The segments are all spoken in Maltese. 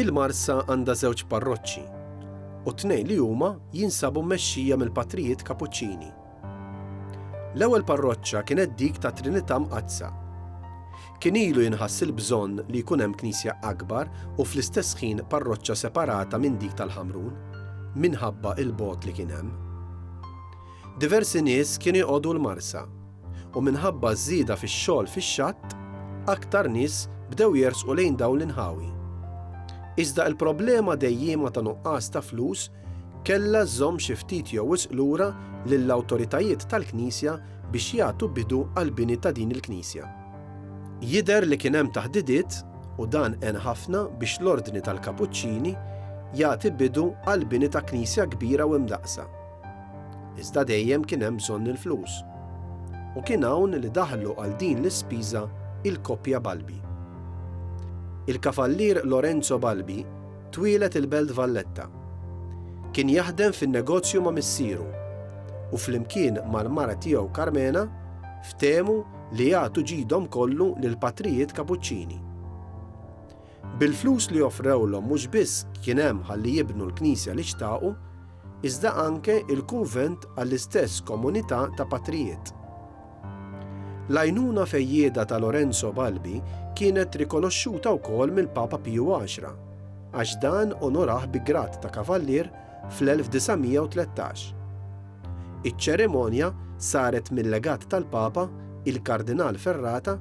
Il-Marsa għandha żewġ parroċċi, u t-tnejn li huma jinsabu mmexxija mill-Patrijiet Kapuċċini. L-ewwel parroċċa kienet dik tat-Trinità Mqaddsa. Kien ilu jinħass il-bżonn li jkun hemm knisja akbar u fl-istess ħin parroċċa separata minn dik tal-Ħamrun, minħabba l-bogħod li kien hemm. Diversi nies kienu jqogħdu l-Marsa. u minħabba ż-żieda fix-xogħol fix-xatt, aktar nies bdew jersqu lejn dawn l-inħawi. Iżda l-problema dejjiema ta' nuqqas ta' flus kellha żżomm xi ftit jew wisq lura lill-awtoritajiet tal-Knisja biex jagħtu bidu għall-bini ta' din il-knisja. Jidher li kien hemm taħdidiet, u dan għen ħafna biex l-Ordni tal-Kapuċċini jagħti bidu għall-bini ta' knisja kbira u imdaqqsa. Iżda dejjem kien hemm bżonn il-flus. U kien hawn li daħlu għal din l-ispiża il-koppja Balbi. Il-Kavallier Lorenzo Balbi twieled il-Belt Valletta. Kien jaħdem fin-negozju ma' missieru u flimkien mal-mara tiegħu Karmena ftehmu li jagħtu ġidhom kollu lill-patrijiet Kapuċċini. Bil-flus li offrewlhom mhux biss kien hemm ħalli jibnu l-knisja li xtaqu, iżda anke il-kunvent għall-istess komunità ta' patrijiet. L-għajnuna fejjieda ta' Lorenzo Balbi kienet rikonoxxuta wkoll mill-Papa Piju Għaxra, għax dan onorah bi grad ta' Kavallier fl-1913. Iċ-ċerimonja saret mil-Legat tal-Papa, il-Kardinal Ferrata,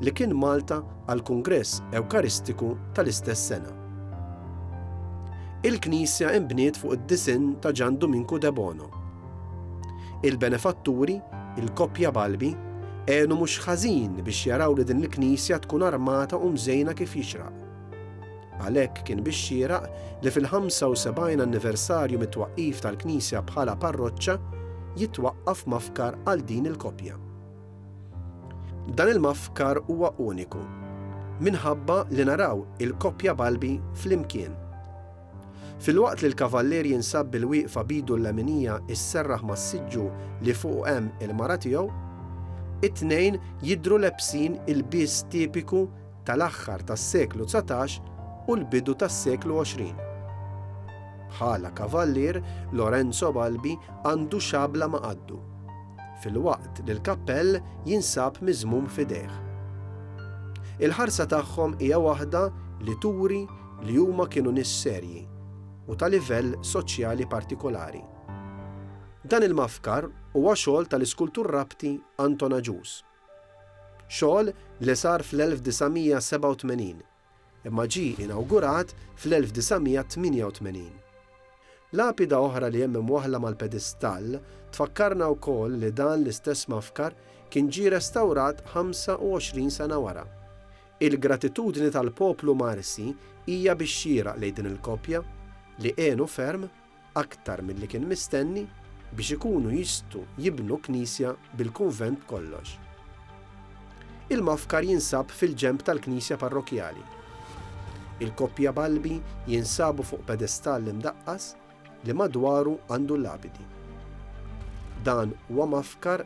li kien Malta għall-Kungress Ewkaristiku tal-istess sena. Il-knisja inbniet fuq id-disinn ta' Ġan Duminku Debono. Il-benefatturi, il-koppja Balbi, għenu mhux ħażin biex jaraw li din il-knisja tkun armata u mżejna kif jixraq. Għalhekk kien bix-xieraq li fil-75 anniversarju mit-twaqqif tal-knisja bħala parroċċa jitwaqqaf mafkar għal din il-koppja. Dan il-mafkar huwa uniku minħabba li naraw il-koppja Balbi flimkien. Filwaqt li l-kavallier jinsab bil-wieqfa b'idu l-leminija isserraħ mas-siġġu li fuqu hemm il-mara tiegħu, it-tnejn jidhru lebsin il-bies tipiku tal-aħħar tas-seklu dsatax u l-bidu tas-seklu għoxrin. Bħala kavallier, Lorenzo Balbi għandu xabla ma' qaddu, filwaqt li l-kappell jinsab miżmum f'idejh. Il-ħarsa tagħhom hija waħda li turi li huma kienu nies serji u ta' livell soċjali partikolari. Dan il-mafkar huwa xogħol tal-iskultur Rabti Anton Agius. Xogħol li sar fl-1987, imma ġie inawgurat fl-1988. Lapida oħra li hemm imwaħħla mal-pedistall tfakkarna wkoll li dan l-istess mafkar kien ġie restawrat 25 sena wara. Il-gratitudni tal-poplu Marsi hija bix-xieraq lejn din il-koppja, li għenu ferm. aktar milli kien mistenni biex ikunu jistgħu jibnu knisja bil-kunvent b'kollox. Il-mafkar jinsab fil-ġenb tal-knisja parrokkjali. Il-koppja Balbi jinsabu fuq pedestall imdaqqas li madwaru għandu l-lapidi. Dan huwa mafkar